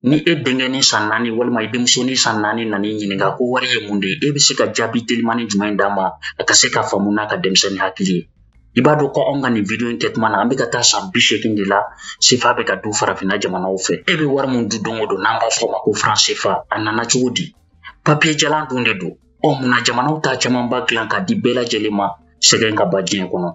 ni e denkɛ ni san naani walima i denmuso ni san naani nana i ɲininka ko wari ye mun de ye e bɛ se ka jaabi telimani jumɛn d'a ma a ka se k'a faamu n'a ka denmisɛnnin hakili ye i b'a dɔn ko anw ka nin video in kɛ tuma na an bɛ ka taa san bi seegin de la sefa bɛ ka dun farafinna jamanaw fɛ e bɛ wari min dun don o don n'an b'a fɔ o ma ko faransefa a nana cogo di papiye jalan dun de don ɔ munna jamanaw t'a camanba dilan k'a di bɛɛ lajɛlen ma sɛgɛn ka ban diɲɛ kɔnɔ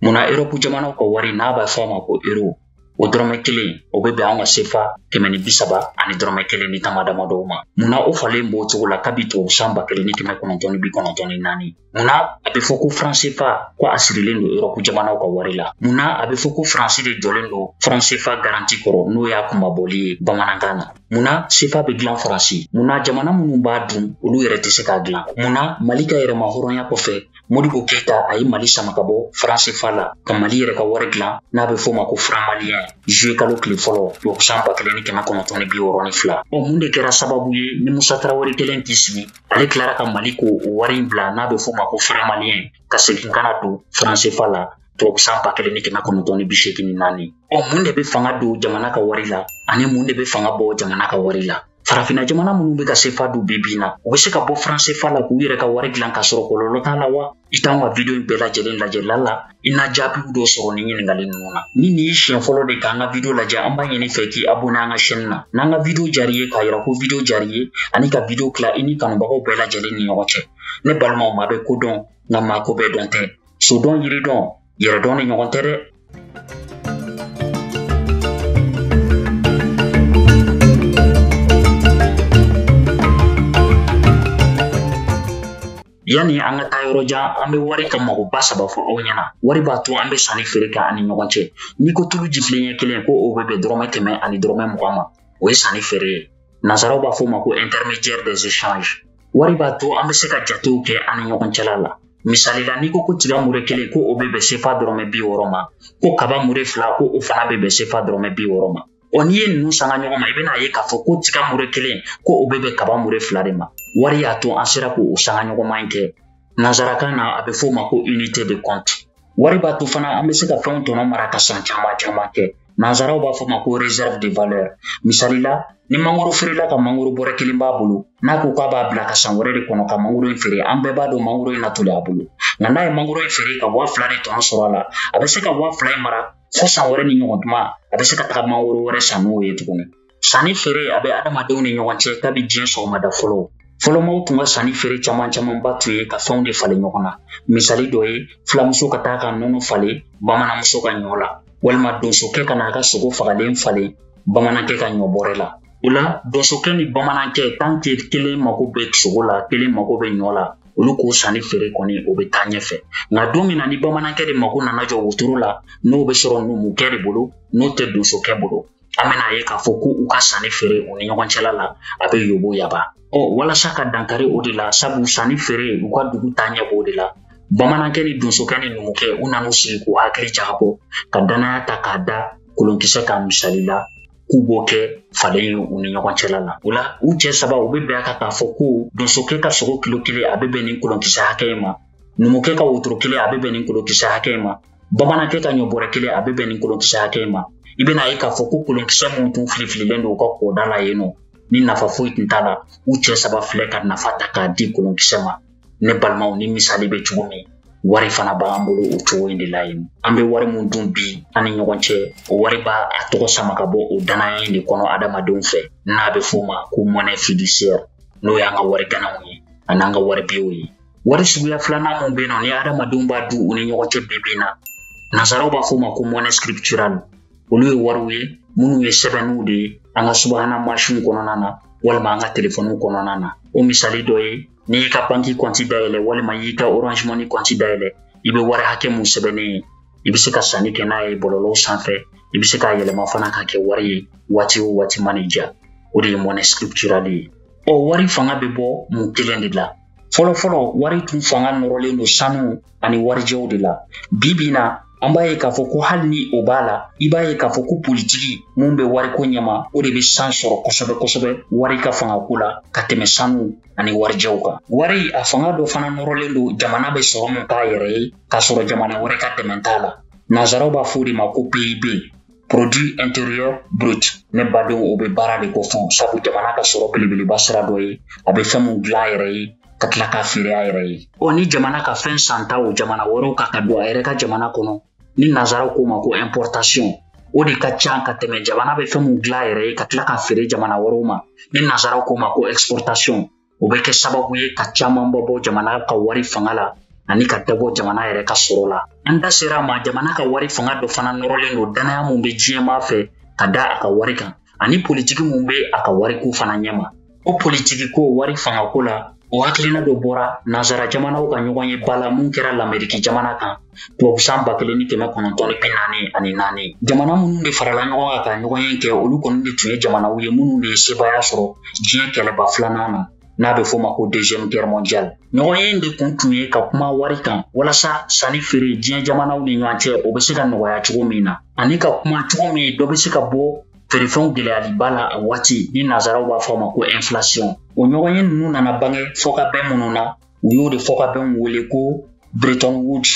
munna erɔpu jamanaw ka wari n'a b'a fɔ a ma ko ero o dɔrɔmɛ kelen o bɛ bɛn anw ka sefa kɛmɛ ni bi saba ani dɔrɔmɛ kelen ni tama dama dɔw ma munna o falen b'o cogo la kabi tubabu san ba kelen ni kɛmɛ kɔnɔntɔn ni bi kɔnɔntɔn ni naani munna a bɛ fɔ ko faransefa ko a sirilen don erɔpu jamanaw ka wari la munna a bɛ fɔ ko faransi de jɔlen don faransefa garanti kɔrɔ n'o y'a kunmabɔli ye bamanankan na munna sefa bɛ dilan faransi munna jamana minnu b'a dun olu yɛrɛ tɛ se k'a dilan munna mali ka yɛrɛmahɔrɔnya kɔfɛ modibo keyita a ye mali sama ka bɔ faransefa la ka mali yɛrɛ ka wari dilan n'a bɛ f'o ma ko franmaliyɛn zuye kalo tile fɔlɔ tubabusan ba kelen ni kɛmɛ kɔnɔntɔn ni bi wɔɔrɔ ni fila ɔ mun de kɛra sababu ye ni musa tarawele kɛlen k'i sigi ale tilara ka mali ko o wari in bila n'a bɛ f'o ma ko franmaliyɛn ka segin ka na don faransefa la tubabusan ba kelen ni kɛmɛ kɔnɔntɔn ni bi seegin ni naani ɔ mun de bɛ fanga don jamana ka wari la ani mun de bɛ fanga bɔ jamana ka wari la farafina jamana minnu bɛ ka sefa dun bi bi in na u bɛ se ka bɔ faransefa la k'u yɛrɛ ka wari dilan k'a sɔrɔ kɔlɔlɔ t'a la wa i t'an ka video in bɛɛ lajɛlen lajɛ lala i na jaabiw dɔ sɔrɔ nin ɲininkali ninnu na ni nin y'i siɲɛ fɔlɔ de k'an ka video lajɛ an b'a ɲini i fɛ k'i abonne an ka chaîne na n'an ka video diyar'i ye k'a yira ko video diyar'i ye ani ka video tila i n'i kanubagaw bɛɛ lajɛlen ni ɲɔgɔn cɛ ne balimaw maa bɛ ko dɔn nka maa ko bɛɛ dɔn tɛ so dɔn yiri dɔn yɛrɛ dɔn ni ɲɔgɔn tɛ dɛ yanni an ka taa yɔrɔ jan an bɛ wari ka magoba saba fɔ aw ɲɛna wari b'a to an bɛ sanni feere kɛ an ni ɲɔgɔn cɛ n'i ko tulu jifilen ɲɛ kelen ko o bɛ bɛn dɔrɔmɛ kɛmɛ ani dɔrɔmɛ mugan ma o ye sanni feere ye nansaraw b'a fɔ o ma ko intermédiaire des échanges wari b'a to an bɛ se ka jatew kɛ an ni ɲɔgɔn cɛla la misali la n'i ko ko tiga mure kelen ko o bɛ bɛn sefa dɔrɔmɛ bi wɔɔrɔ ma ko kaba mure fila ko o fana bɛ bɛn sefa dɔrɔmɛ bi wɔɔrɔ ma ɔ n'i ye ninnu sanga ɲɔgɔn ma i bɛn'a ye k'a fɔ ko tiga mure kelen ko o bɛ bɛn kaba mure fila de ma wari y'a to an sera k'o sanga ɲɔgɔnma in kɛ nansarakan na a bɛ f'o ma ko unité de compte wari b'a to fana an bɛ se ka fɛnw tɔnɔ mara ka san caman caman kɛ Nansaraw b'a f'o ma ko réserve de valeur misali la ni mangoro feerela ka mangoro bɔrɛ kelen b'a bolo n'a ko k'a b'a bila ka san wɛrɛ de kɔnɔ ka mangoro in feere an bɛɛ b'a dɔn mangoro in na toli a bolo nka n'a ye mangoro in feere ka waa fila de tɔnɔ sɔrɔ a la a bɛ se ka waa fila in mara fo san wɛrɛ nin ɲɔgɔn tuma a bɛ se ka taga mangoro wɛrɛ san n'o ye tuguni Sanni feere a bɛ adamadenw ni ɲɔgɔn cɛ kabi diɲɛ sɔgɔmada fɔlɔ fɔlɔmaw tun ka sanni feere caman camanba tun ye ka fɛnw de falen ɲɔgɔn na misali dɔ ye filamuso ka taa ka nɔnɔ falen bamananmuso ka ɲɔ la walima donsokɛ ka n'a ka sogo fagalen falen bamanankɛ ka ɲɔ bɔrɛ la o la donsokɛ ni bamanankɛ tant que kelen mago bɛ sogo la kelen mago bɛ ɲɔ la olu k'o sanni feere kɔni o bɛ taa ɲɛfɛ nka don min na ni bamanankɛ de mago nana jɔ wotoro la n'o bɛ sɔrɔ numukɛ de bolo n'o tɛ donsokɛ bolo an bɛn'a ye k'a fɔ ko u ka sanni feere u ni ɲɔgɔn cɛla la a bɛ yoboyaba ɔ walasa ka dankari o de la sabu sanni feere u ka dugu taaɲɛ b'o de la bamanankɛ ni donsokɛ ni numukɛ u nan'u sigi k'u hakili jagabɔ ka dannaya ta k'a da kolonkisɛ kan misali la k'u b'o kɛ falen ye u ni ɲɔgɔn cɛla la o la u cɛ saba u bɛ bɛn a kan k'a fɔ ko donsokɛ ka sogo kilo kelen a bɛ bɛn ni kolonkisɛ hakɛ ma numukɛ ka wotoro kelen a bɛ bɛn ni kolonkisɛ hakɛ ma bamanankɛ ka ɲɔ bɔrɛ kelen a bɛ bɛn ni kolonkisɛ hakɛ in ma i bɛn'a ye k'a fɔ ko kolonkisɛ minnu tun filifililen don u ka kɔda la yen nɔ ni nafa foyi tun t'a la u cɛ saba filɛ ka nafa ta k'a di kolonkisɛ ma ne balimaw nin misali bɛ cogo min wari fana b'an bolo o cogo in de la yen an bɛ wari min dun bi an ni ɲɔgɔn cɛ o wari b'a tɔgɔ sama ka bɔ o dannaya in de kɔnɔ adamadenw fɛ n'a bɛ f'o ma ko monnaie fiduciaire n'o y'an ka wari ganaw ye an'an ka wari biyew ye wari suguya filanan min bɛ yen nɔ ni adamadenw b'a dun u ni ɲɔgɔn cɛ bi bi in na nazaraw b'a fɔ o ma ko monnaie scripturale olu ye wariw ye minnu ye sɛbɛnniw de ye an ka subahana mansinw kɔnɔna na walima an ka telefɔniw kɔnɔna na o misali dɔ ye n'i y'i ka banki kɔnti dayɛlɛ walima y'i ka orange money kɔnti dayɛlɛ i bɛ wari hakɛ min sɛbɛnnen ye i bɛ se ka sanni kɛ n'a ye bɔlɔlɔw sanfɛ i bɛ se k'a yɛlɛma fana ka kɛ wari ye waati o waati mana i diya o de ye monnaie scripturale ye ɔ wari fanga bɛ bɔ mun kelen de la fɔlɔfɔlɔ wari tun fanga nɔrɔlen don sanu ani warijɛw de la bi bi na an b'a ye k'a fɔ ko hali ni o b'a la i b'a ye k'a fɔ ko politiki min bɛ wariko ɲɛma o de bɛ sanga sɔrɔ kosɛbɛ kosɛbɛ wari ka fangako la ka tɛmɛ sanu ani warijɛw kan wari a fanga dɔ fana nɔrɔlen don jamana bɛ sɔrɔ min k'a yɛrɛ ye k'a sɔrɔ jamana wɛrɛ ka dɛmɛ t'a la nansaraw b'a fɔ o de ma ko pib produit intérieur brut ne badenw o bɛ baara de kofɔ sabu jamana ka sɔrɔ belebeleba sira dɔ ye a bɛ fɛn min dilan a yɛrɛ ye ka tila k'a feere a yɛrɛ ye ɔ ni jamana ka fɛn santaw jamana wɛrɛw kan ka don a yɛrɛ ka jamana kɔnɔ ni nazaraw k'o ma ko importation o de ka ca ka tɛmɛ jamana bɛ fɛn min dilan a yɛrɛ ye ka tila k'a feere jamana wɛrɛw ma ni nazaraw k'o ma ko exportation o bɛ kɛ sababu ye ka camanba bɔ jamana ka wari fanga la ani ka dɔ bɔ jamana yɛrɛ ka sɔrɔ la an da sera a ma jamana ka wari fanga dɔ fana nɔrɔlen don dannaya min bɛ diɲɛmaa fɛ ka da a ka wari kan ani politiki min bɛ a ka wariko fana ɲɛma o politikiko wari fangako la o hakilina dɔ bɔra nansara jamanaw ka ɲɔgɔnyeba la min kɛra lameriki jamana kan tubabu san ba kelen ni kɛmɛ kɔnɔntɔn ni bi naani ani naani jamana minnu de farala ɲɔgɔn kan ka ɲɔgɔn ye kɛ olu kɔni de tun ye jamanaw ye minnu de ye sebaaya sɔrɔ diɲɛ kɛlɛba filanan na n'a bɛ f'o ma ko deuxième guerre mondiale ɲɔgɔnye in de kun tun ye ka kuma wari kan walasa sanni feere diɲɛ jamanaw ni ɲɔgɔn cɛ o bɛ se ka nɔgɔya cogo min na ani ka kuma cogo min dɔ bɛ se ka bɔ feerefɛnw gɛlɛyaliba la a waati ni nazaraw b'a fɔ a ma ko inflation o ɲɔgɔnye ninnu nana bange fɔkabɛn minnu na u y'o de fɔkabɛnw wele ko bretton woods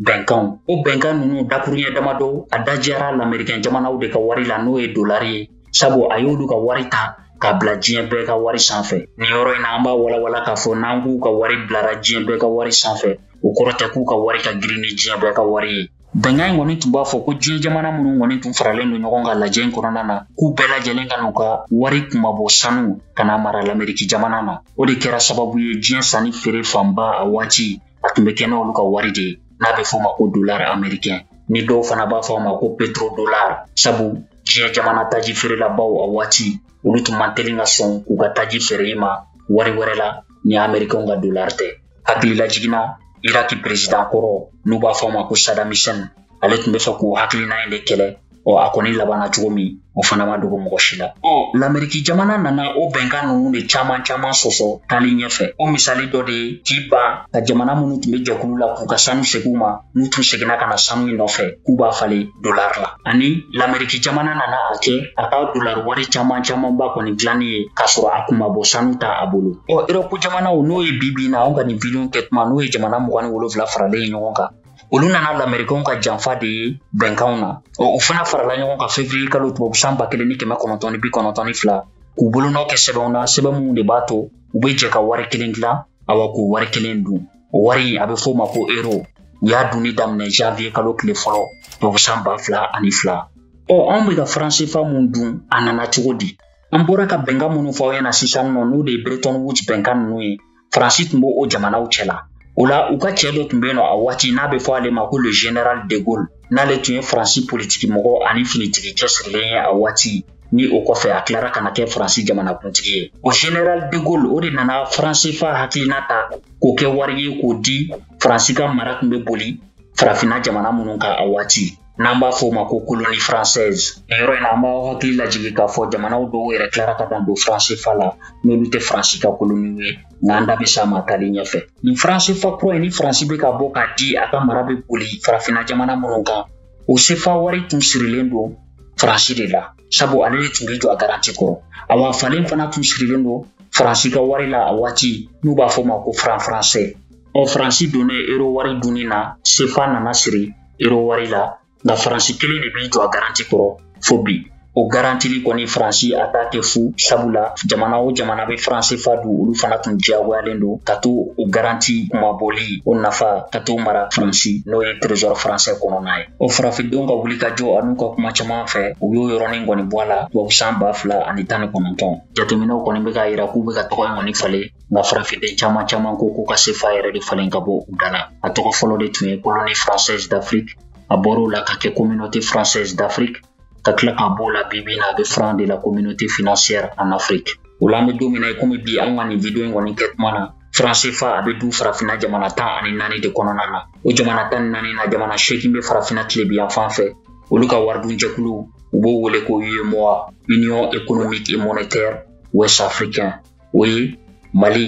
bɛnkanw o bɛnkan ninnu dakuruɲɛ damadɔ a da diyara lamerikɛn jamanaw de ka wari la n'o ye dolari ye sabu a y'olu ka wari ta ka bila diɲɛ bɛɛ ka wari sanfɛ nin yɔrɔ in na an b'a walawala k'a fɔ n'an k'u ka wari bilara diɲɛ bɛɛ ka wari sanfɛ o kɔrɔ tɛ k'u ka wari ka girin ni diɲɛ bɛɛ ka wari ye Bɛnkan in kɔni tun b'a fɔ ko diɲɛ jamana minnu kɔni tun faralen don ɲɔgɔn kan lajɛ in kɔnɔna na k'u bɛɛ lajɛlen ka n'u ka wari kunmabɔ sanu ka na mara lameriki jamana na o de kɛra sababu ye diɲɛ sanni feere fanba a waati a tun bɛ kɛ n'olu ka wari de ye n'a bɛ fɔ ma ko dolar amerikɛn ni dɔw fana b'a fɔ a ma ko petro dolar sabu diɲɛ jamana taji feerelabaw a waati olu tun man teli ka sɔn k'u ka taji feere i ma wari wɛrɛ la ni amerikɛnw ka dolar tɛ hakililajigin na iraki perezidan kɔrɔ n'u b'a fɔ a ma ko saddam hussein ale tun b'a fɛ k'o hakilina in de kɛlɛ ɔ a kɔni labanna cogo min o fana ma dogo mɔgɔ si la ɔ lameriki jamana nana o bɛnkan ninnu de caman caman sɔsɔ taali ɲɛfɛ o misali dɔ de ye k'i ban ka jamana minnu tun bɛ jɛkulu la k'u ka sanu segi u ma n'u tun seginna ka na sanu in nɔfɛ k'u b'a falen dolar la ani lameriki jamana nana a kɛ a ka dolar wari caman camanba kɔni dilanni ye k'a sɔrɔ a kunmabɔ sanu t'a bolo ɔ erɔpu jamanaw n'o ye bi bi na anw ka nin video kɛ tuma n'o ye jamana mugan ni wolonfila faralen ye ɲɔgɔn kan olu nana lamerikanw ka janfa de ye bɛnkanw na ɔ u fana farala ɲɔgɔn kan fevriye kalo tubabu san ba kelen ni kɛmɛ kɔnɔntɔn ni bi kɔnɔntɔn ni fila k'u bolonɔ kɛ sɛbɛnw na sɛbɛn minnu de b'a to u bɛ jɛ ka wari kelen dilan awa k'o wari kelen dun wari a bɛ f'o ma ko euro u y'a dunni daminɛ janvier kalo tile fɔlɔ tubabusan ba fila ani fila ɔ anw bɛ ka franc cfa min dun a nana cogo di an bɔra ka bɛnkan minnu fɔ aw ɲɛna sisan nɔ n'o de ye bretton woods bɛnkan ninnu ye faransi tun bɛ o jamanaw cɛ la o la u ka cɛ dɔ tun bɛ yen nɔ a waati n'a bɛ fɔ ale ma ko le general de gaulle n'ale tun ye faransi politiki mɔgɔ ani finitigi cɛsirilen ye a waati ni o kɔfɛ a tilara ka na kɛ faransi jamanakuntigi ye o general de gaulle o de nana franc cfa hakilina ta k'o kɛ wari ye k'o di faransi ka mara tun bɛ boli farafinna jamana minnu kan a waati n'an b'a fɔ o ma ko colonie française nin yɔrɔ in na an b'aw hakili lajigi k'a fɔ jamanaw dɔw yɛrɛ tilara ka dan don franc cfa la n'olu tɛ faransi ka koloniw ye nka an da bɛ s'a ma taali ɲɛfɛ nin franc cfa kura in ni faransi bɛ ka bɔ k'a di a ka mara bɛ boli farafinna jamana minnu kan o sefa wari tun sirilen don faransi de la sabu ale de tun b'i jɔ a garanti kɔrɔ awa falen fana tun sirilen don faransi ka wari la a waati n'u b'a f'o ma ko franc français ɔ faransi donnen ero wari dunni na sefa nana siri ero wari la nka faransi kelen de b'i jɔ a garanti kɔrɔ fo bi o garantili kɔni faransi a t'a kɛ fu sabula jamana o jamana bɛ franc CFA dun olu fana tun diyagoyalen don ka to o garanti kunmabɔli o nafa ka t'o mara faransi n'o ye trésor français kɔnɔna ye o farafindenw ka wuli ka jɔ an'u ka kuma caman fɛ u y'o yɔrɔnin kɔni bɔ a la tubabu san ba fila ani tan ni kɔnɔntɔn jateminɛw kɔni bɛ k'a yira k'u bɛ ka tɔgɔ in kɔni falen nka farafinden caman caman ko k'u ka sefa yɛrɛ de falen ka bɔ u da la a tɔgɔ fɔlɔ de tun ye colonie française d'afrique a bɔr'o la ka kɛ communauté française d'afrique ka tila k'a b'o la bi bi in na a bɛ franc de la communauté financière en Afrique o la an bɛ don min na i komi bi an ka nin video in kɔni kɛ tuma na franc CFA a bɛ dun farafinna jamana tan ani naani de kɔnɔna na o jamana tan ni naani na jamana seegin bɛ farafinna tilebin yan fan fɛ olu ka waridunjɛkulu u b'o wele ko UEMOA Union économique et monétaire ouest africain o ye mali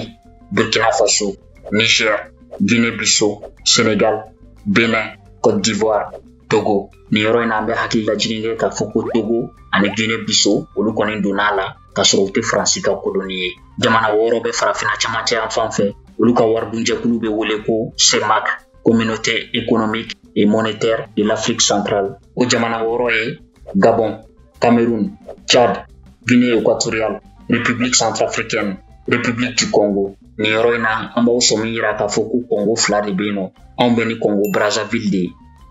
burkina faso niger guinée bissau sénégal bénin côte d'ivoire togo nin yɔrɔ in na an bɛ hakililajigin kɛ k'a fɔ ko togo ani guinée bissau olu kɔni donna a la k'a sɔrɔ u tɛ faransi ka koloni ye jamana wɔɔrɔ bɛ farafina camancɛ yan fan fɛ olu ka waridunjɛkulu bɛ wele ko cemac communauté économique et monétaire de l'afrique centrale o jamana wɔɔrɔ ye gabon Cameroun, Tchad, Guinée équatoriale, République centrafricaine, République du Congo. Nin yɔrɔ in na an b'aw sɔmi yira k'a fɔ ko Congo fila de bɛ yen nɔ anw bɛ ni Congo Brazzaville de ye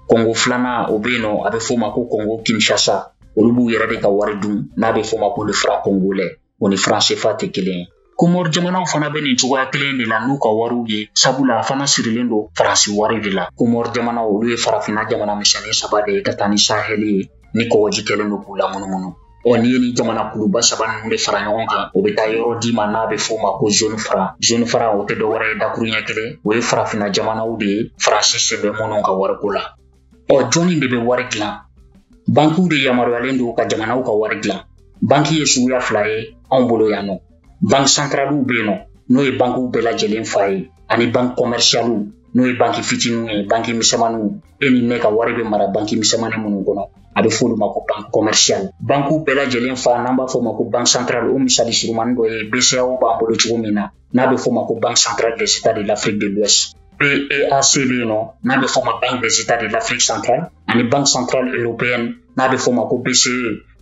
Congo filanan o bɛ yen nɔ a bɛ f'o ma ko Congo Kinshasa olu b'u yɛrɛ de ka wari dun n'a bɛ f'o ma ko le franc congolais o ni franc CFA tɛ kelen ye komor jamanaw fana bɛ nin cogoya kelen de la n'u ka wariw ye sabula a fana sirilen don faransi wari de la komor jamanaw olu ye farafina jamana misɛnnin saba de ye ka taa ni sahɛli ye ni kɔgɔji kɛlen don k'u lamunumunu ɔ n'i ye nin jamana kuluba saba ninnu de fara ɲɔgɔn kan o bɛ taa yɔrɔ d'i ma n'a bɛ f'o ma ko zone franc zone franc o tɛ dɔwɛrɛ ye dakuruɲɛ kelen o ye farafina jamanaw de ye faransi sen bɛ minnu ka wariko la ɔ jɔni de bɛ wari dilan bankiw de yamaruyalen don ka jamanaw ka wari dilan banki ye suguya fila ye anw bolo yan nɔ banki santaraliw bɛ yen nɔ n'o ye bankiw bɛɛ lajɛlen fa ye ani banki kɔmɛrisiyaliw n'o ye banki fitininw ye banki misɛnmaninw e ni ne ka wari bɛ mara banki misɛnmanin minnu kɔnɔ a bɛ f'olu ma ko banki kɔmɛrisiyali bankiw bɛɛ lajɛlen fa n'an b'a fɔ o ma ko banki santarali o misali surunmannin dɔ ye bceao b'an bolo cogo min na n'a bɛ f'o ma ko banque centrale des états de l'afrique de l'ouest BEAC bɛ yen nɔ n'a bɛ f'o ma banque des états de l'afrique centrale ani banque centrale européenne n'a bɛ f'o ma ko BCE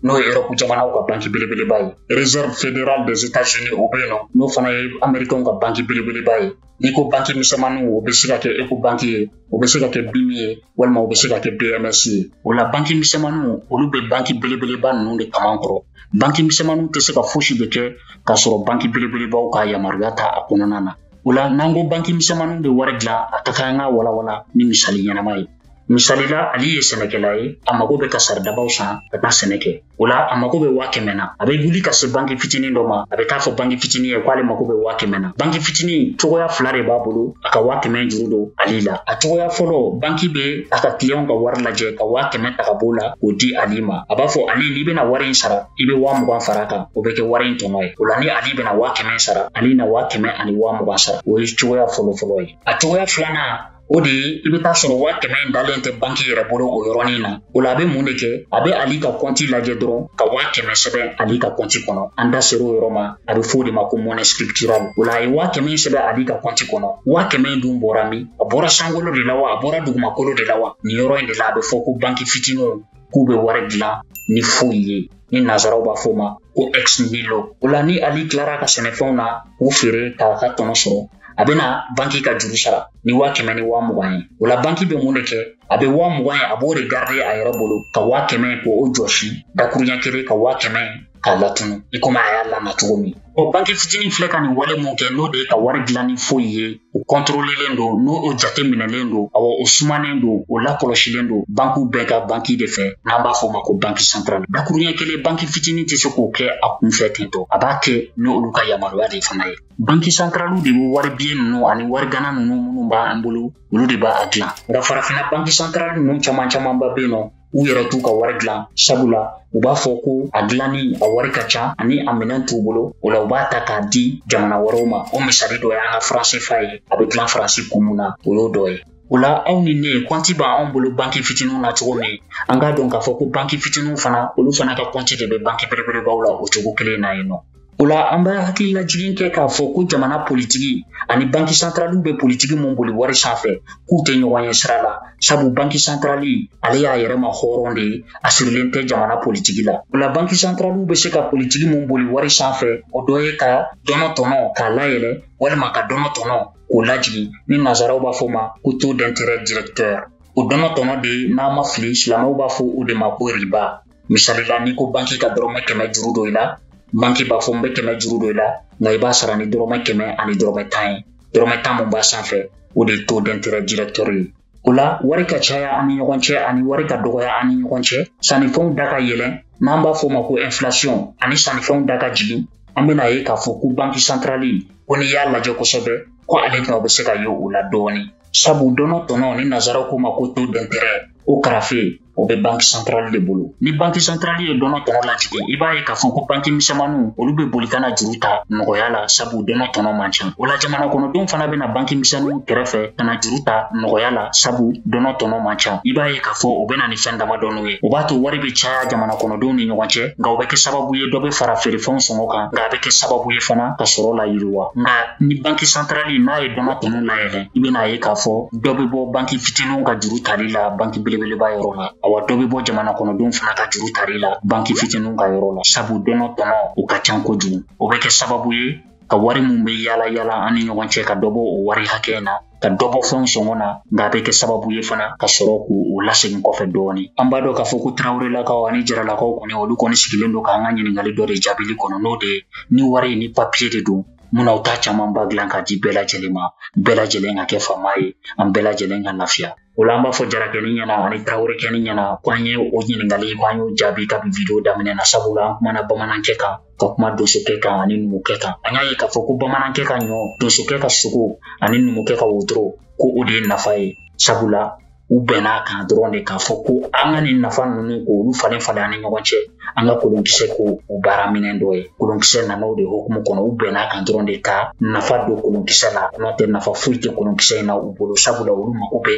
n'o ye Europe jamanaw ka banki belebeleba ye réserve fédérale des états-unis o bɛ yen nɔ n'o fana ye amerikɛnw ka banki belebeleba ye n'i ko banki misɛnmaninw o bɛ se ka kɛ ecobanki ye o bɛ se ka kɛ bimi ye walima o bɛ se ka kɛ bms ye o la banki misɛnmaninw olu bɛ banki belebeleba ninnu de kaman kɔrɔ banki misɛnmaninw tɛ se ka fosi de kɛ k'a sɔrɔ banki belebelebaw ka yamaruya t'a kɔnɔna na o la n'an ko banki misɛnmaninw bɛ wari dilan a ka kan an k'a walawala ni misali ɲɛnama ye misali la ali ye sɛnɛkɛla ye a mago bɛ ka saridabaw san ka taa sɛnɛ kɛ o la a mako bɛ waa kɛmɛ na a bɛ wuli ka se banki fitinin dɔ ma a bɛ t'a fɔ banki fitinin ye k'ale mako bɛ waa kɛmɛ na banki fitinin cogoya fila de b'a bolo a ka waa kɛmɛ juru don ali la a cogoya fɔlɔ banki bɛ a ka kiliyanw ka wari lajɛ ka waa kɛmɛ ta ka b'o la k'o di ali ma a b'a fɔ ali n'i bɛna wari in sara i bɛ waa mugan far'a kan o bɛ kɛ wari in tɔnɔ ye o la ni ali bɛna waa kɛmɛ sara ali na waa kɛmɛ ani waa mugan sara o ye cogoya fɔlɔfɔlɔ ye a cogoya filanan o de ye i bɛ t'a sɔrɔ waa kɛmɛ in dalen tɛ banki yɛrɛ bolo o yɔrɔnin na o la a bɛ mun de kɛ a bɛ ali ka kɔnti lajɛ dɔrɔn ka waa kɛmɛ sɛbɛn ali ka kɔnti kɔnɔ an da ser'o yɔrɔ ma a bɛ f'o de ma ko monnaie scripturale o la a ye waa kɛmɛ in sɛbɛn ali ka kɔnti kɔnɔ waa kɛmɛ in dun bɔra min a bɔra sankolo de la wa a bɔra dugumakolo de la wa nin yɔrɔ in de la a bɛ fɔ ko banki fitiniw k'u bɛ wari dilan ni foyi ye ni nazaraw b'a fɔ ma ko ex nihilo o la ni ali tilar'a ka sɛnɛfɛnw na k'u feere k'a ka tɔnɔ sɔrɔ a bɛna banki ka juru sara ni waa kɛmɛ ni waa mugan ye o la banki bɛ mun de kɛ a bɛ waa mugan ye a b'o de garide a yɛrɛ bolo ka waa kɛmɛ k'o jɔsi dakuruɲɛ kelen ka waa kɛmɛ k'a latunu i komi a y'a lana cogo min ɔ banki fitinin filɛ ka nin wale mun kɛ n'o de ye ka wari dilan ni foyi ye o kɔntorolelen don o jateminɛlen don awa o sumanen don o lakɔlɔsilen don bankiw bɛɛ ka banki de fɛ n'an b'a fɔ ma ko banki santarali dakuruɲɛ kelen banki fitini tɛ se k'o kɛ a kunfɛ tentɔ a b'a kɛ ni olu ka yamaruya de fana ye banki santaraliw de bɛ wari biye ninnu ani wari gana ninnu minnu b'an bolo olu de b'a dilan nka farafina banki santarali ninnu caman camanba bɛ yen nɔ u yɛrɛ t'u ka wari dilan sabula u b'a fɔ ko a dilanni a wari ka ca ani a minɛn t'u bolo o la u b'a ta k'a di jamana wɛrɛw ma o misali dɔ y'an ka faran sefa ye a bɛ dilan faransi kun mun na o y'o dɔ ye o la aw ni ne kɔnti b'anw bolo banki fitininw na cogo min an k'a dɔn k'a fɔ ko banki fitininw fana olu fana ka kɔnti de bɛ banki belebelebaw la o cogo kelen na yen nɔ O la an bɛ hakililajigin kɛ k'a fɔ ko jamana politigi ani banki santaraliw bɛ politigi mun boli wari sanfɛ k'u tɛ ɲɔgɔn ye sira la sabu banki santarali ale y'a yɛrɛmahɔrɔn de ye a sirilen tɛ jamana politigi la o la banki santaraliw bɛ se ka politigi mun boli wari sanfɛ o dɔ ye ka dɔnɔ tɔnɔ k'a layɛlɛ walima ka dɔnɔ tɔnɔ k'o lajigin ni nazaraw b'a fɔ ma ko taux d'intérêt directeur o dɔnɔ tɔnɔ de ye n'an ma fili silamɛw b'a fɔ o de ma ko riba misali la n'i ko banki ka dɔrɔmɛ kɛmɛ juru don i la banki b'a fɔ n bɛ kɛmɛ juru don i la nka i b'a sara ni dɔrɔmɛ kɛmɛ ani dɔrɔmɛ tan ye dɔrɔmɛ tan min b'a sanfɛ o de ye taux d'intérêt directeur ye o la wari ka caya an ni ɲɔgɔn cɛ ani wari ka dɔgɔya an ni ɲɔgɔn cɛ sannifɛnw da ka yɛlɛn n'an b'a fɔ o ma ko inflation ani sannifɛnw da ka jigin an bɛn'a ye k'a fɔ ko banki santarali ko n'i y'a lajɛ kosɛbɛ ko ale nɔ bɛ se ka ye o la dɔɔni sabu dɔnɔ tɔnɔ ni nazaraw k'o ma ko taux d'intérêt o karafe o bɛ banki santarali de bolo ni banki santarali ye dɔnɔ tɔnɔ lajigin i b'a ye k'a fɔ ko banki misɛnmaninw olu bɛ boli ka na juru ta nɔgɔya la sabu dɔnɔ tɔnɔ man ca o la jamana kɔnɔdenw fana bɛ na banki misɛnninw kɛrɛfɛ ka na juru ta nɔgɔya la sabu dɔnɔ tɔnɔ man ca i b'a ye k'a fɔ o bɛ na ni fɛn damadɔninw ye o b'a to wari bɛ caya jamana kɔnɔdenw ni ɲɔgɔn cɛ nka o bɛ kɛ sababu ye dɔ bɛ fara feerefɛnw sɔngɔ kan nka a bɛ kɛ sababu ye fana ka sɔrɔ layiriwa nka ni banki santarali n'a ye dɔnɔ tɔnɔ layɛlɛn i bɛn'a ye k'a fɔ dɔ bɛ bɔ banki fitininw ka juru tali la banki belebeleba yɔrɔ la awa dɔ bɛ bɔ jamana kɔnɔdenw fana ka juru tali la banki fitininw ka yɔrɔ la sabu dɔnɔ tɔnɔ o ka can kojugu o bɛ kɛ sababu ye ka wari min bɛ yaala yaala an ni ɲɔgɔn cɛ ka dɔ bɔ o wari hakɛ in na ka dɔ bɔ fɛnw sɔngɔ na nka a bɛ kɛ sababu ye fana ka sɔrɔ k'o lasegin kɔfɛ dɔɔni an b'a dɔn k'a fɔ ko tarawelelakaw ani jaralakaw kɔni olu kɔni sigilen don k'an ka ɲininkali dɔ de jaabili kɔnɔ n'o de ye ni wari ni papiye de don mun na u t'a camanba dilan k'a di bɛɛ lajɛlen ma bɛɛ lajɛlen ka kɛ faama ye an bɛɛ lajɛlen ka lafiya o la an b'a fɔ jarakɛni ɲɛna ani tarawelekɛni ɲɛna ko an ye o ɲininkali ko an y'o jaabi kabi video daminɛ na sabula an kumana bamanankɛ kan ka kuma donsokɛ kan ani numukɛ kan an y'a ye k'a fɔ ko bamanankɛ ka ɲɔ donsokɛ ka sogo ani numukɛ ka wotoro ko o de ye nafa ye sabula u bɛnn'a kan dɔrɔn de k'a fɔ ko an ka nin nafa ninnu k'olu falen falen an ni ɲɔgɔn cɛ an ka kolonkisɛ k'o baaraminɛn dɔ ye kolonkisɛ nana o de hokumu kɔnɔ u bɛnn'a kan dɔrɔn de ka nafa don kolonkisɛ la n'o tɛ nafa foyi tɛ kolonkisɛ in na u bolo sabula olu mago bɛ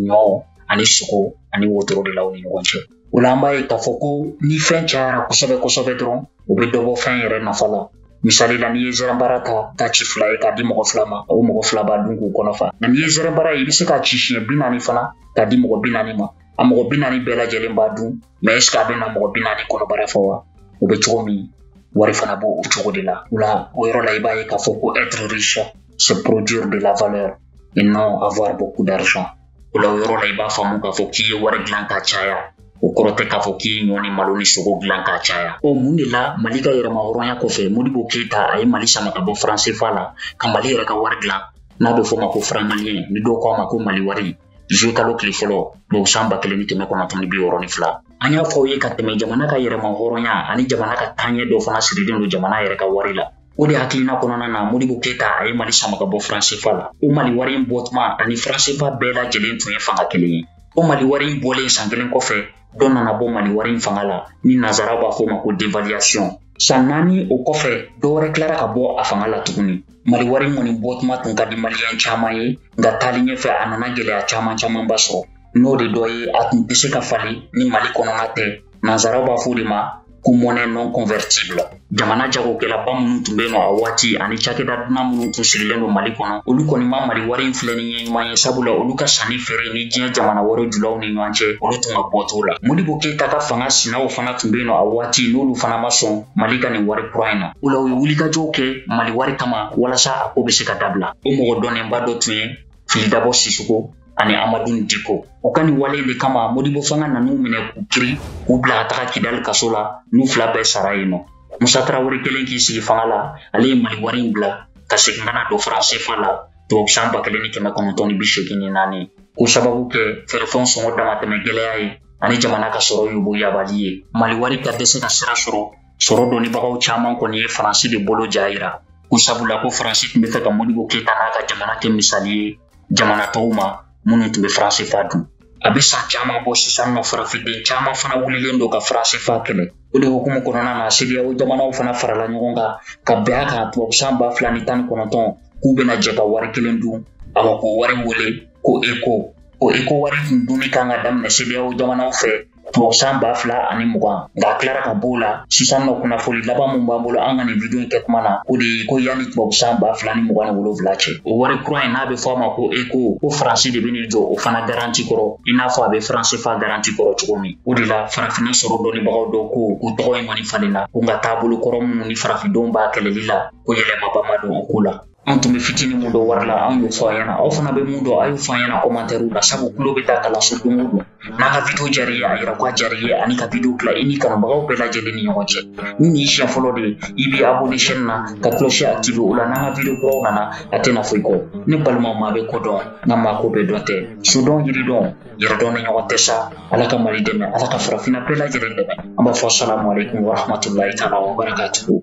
ɲɔ ani sogo ani wotoro de la u ni ɲɔgɔn cɛ o la an b'a ye k'a fɔ ko ni fɛn cayara kosɛbɛ kosɛbɛ dɔrɔn o bɛ dɔ bɔ fɛn yɛrɛ nafa la misali la n'i ye zɛrɛnbara ta k'a ci fila ye k'a di mɔgɔ fila ma o mɔgɔ fila b'a dun k'u kɔnɔ fa nka n'i ye zɛrɛnbara ye i bɛ se k'a ci siɲɛ bi naani fana k'a di mɔgɔ bi naani ma a mɔgɔ bi naani bɛɛ lajɛlen b'a dun mais est ce que a bɛna mɔgɔ bi naani kɔnɔbara fa wa o bɛ cogo min wari fana b'o cogo de la o la o yɔrɔ la i b'a ye k'a fɔ ko être riche c'est produire de la valeur et non avoir beaucoup d'argent o la yɔrɔ la i b'a faamu k'a fɔ k'i ye wari dilan ka caya o kɔrɔ tɛ k'a fɔ k'i ye ɲɔ ni malo ni sogo dilan ka caya o mun de la mali ka yɛrɛmahɔrɔnya kɔfɛ modibo keyita a ye mali sama ka bɔ faransefa la ka mali yɛrɛ ka wari dilan n'a bɛ fɔ ma ko faranmaliyɛn ni dɔw ko a ma ko mali wari zuye kalo tile fɔlɔ tubabu san ba kelen ni kɛmɛ kɔnɔntɔn ni bi wɔɔrɔ ni fila an y'a fɔ aw ye ka tɛmɛ jamana ka yɛrɛmahɔrɔnya ani jamana ka taaɲɛ dɔ fana sirilen don jamana yɛrɛ ka wari la o de hakilina kɔnɔna na modibo keyita a ye mali sama ka bɔ faransefa la o mali wari in bɔtuma ani faransefa bɛɛ lajɛlen tun ye fanga kelen ye o mali wari in bɔlen san kelen kɔfɛ dɔ nana bɔ mali wari in fanga la ni nazaraw b'a fɔ ma ko dévaluation san naani o kɔfɛ dɔ wɛrɛ tilara ka bɔ a fanga la tuguni mali wari kɔni bɔtuma tun ka di maliyɛn caman ye nka taali ɲɛfɛ a nana gɛlɛya caman camanba sɔrɔ n'o de dɔ ye a tun tɛ se ka falen ni mali kɔnɔna tɛ nanzaraw b'a fɔ de ma ko monnaie non convertible jamana jagokɛlaba minnu tun bɛ yen nɔ a waati ani cakɛda dunan minnu tun sigilen don mali kɔnɔ olu kɔni ma mali wari in filɛ ni ɲɛ ɲuman ye sabula olu ka sanni feere ni diɲɛ jamana wɛrɛ julaw ni ɲɔgɔn cɛ olu tun ka bɔ t'o la modibo keyita ka fanga sinaw fana tun bɛ yen nɔ a waati n'olu fana ma sɔn mali ka nin wari kura in na o la u ye wulikajɔw kɛ mali wari kama walasa a ko bɛ se ka dabila o mɔgɔ dɔnnenba dɔ tun ye fili dabo sisoko ani amadun diko o ka nin wale de kama modibo fanga nan'u minɛ k'u kiri k'u bila ka taga kidali kaso la n'u fila bɛɛ sara yen nɔ musa tarawele kɛlen k'i sigi fanga la ale ye mali wari in bila ka segin ka na don faransefa la tubabu san ba kelen ni kɛmɛ kɔnɔntɔn ni bi seegin ni naani k'o sababu kɛ feerefɛnw sɔngɔ damatɛmɛ gɛlɛya ye ani jamana ka sɔrɔ yiriwabali ye mali wari ka dɛsɛ ka sira sɔrɔ sɔrɔ dɔnnibagaw caman kɔni ye faransi de bolo ja yira ko sabula ko faransi tun b'a fɛ ka modibo keyita n'a ka jamana kɛ misali ye jamana tɔw ma minnu tun bɛ faransefa dun a bɛ san caman bɔ sisan nɔ farafinden caman fana wulilen don ka faransefa kɛlɛ o de hukumu kɔnɔna na sediyawo jamanaw fana farala ɲɔgɔn kan ka bɛn a kan tubabu san ba fila ni tan ni kɔnɔntɔn k'u bɛna jɛ ka wari kelen dun awa k'o wari wele ko eko o eko wari tun dunni kan ka daminɛ sediyawo jamanaw fɛ tubabu san ba fila ani mugan nka a tilara ka b'o la sisan nɔ kunnafoli laban min b'an bolo an ka nin video in kɛ tuma na o de ye ko yanni tubabu san ba fila ni mugan ni wolonfila cɛ o wari kura in n'a bɛ fɔ a ma ko eko ko faransi de bɛn'i jɔ o fana garanti kɔrɔ i n'a fɔ a bɛ faransefa garanti kɔrɔ cogo min o de la farafinna sɔrɔ dɔnnibagaw dɔ ko o tɔgɔ in kɔni falenna ko nka taabolo kɔrɔ minnu ni farafindenw b'a kɛlɛli la ko yɛlɛmaba ma don o ko la an tun bɛ fitini mun dɔn wari la an y'o fɔ aw ɲɛna aw fana bɛ mun dɔn a y'o fɔ an ɲɛna kɔmantɛriw la sabu tulo bɛ taa kalanso don o don n'an ka video diyara i ye a yira ko a diyara i ye an'i ka video tila i n'i kanubagaw bɛɛ lajɛlen ni ɲɔgɔn cɛ ni nin y'i siɲɛ fɔlɔ de ye i bɛ abonné chaîne na ka cloche activer o la n'an ka video kuraw nana a tɛna fɔ i kɔ ne balimaw maa bɛ ko dɔn nka maa ko bɛɛ dɔn tɛ sodɔn yiridɔn yɛrɛdɔn de ɲɔgɔn tɛ sa ala ka mali dɛmɛ ala ka farafinna bɛɛ lajɛlen dɛmɛ an b'a fɔ salamu aleykum warahmatulahi taala wabarakatuhu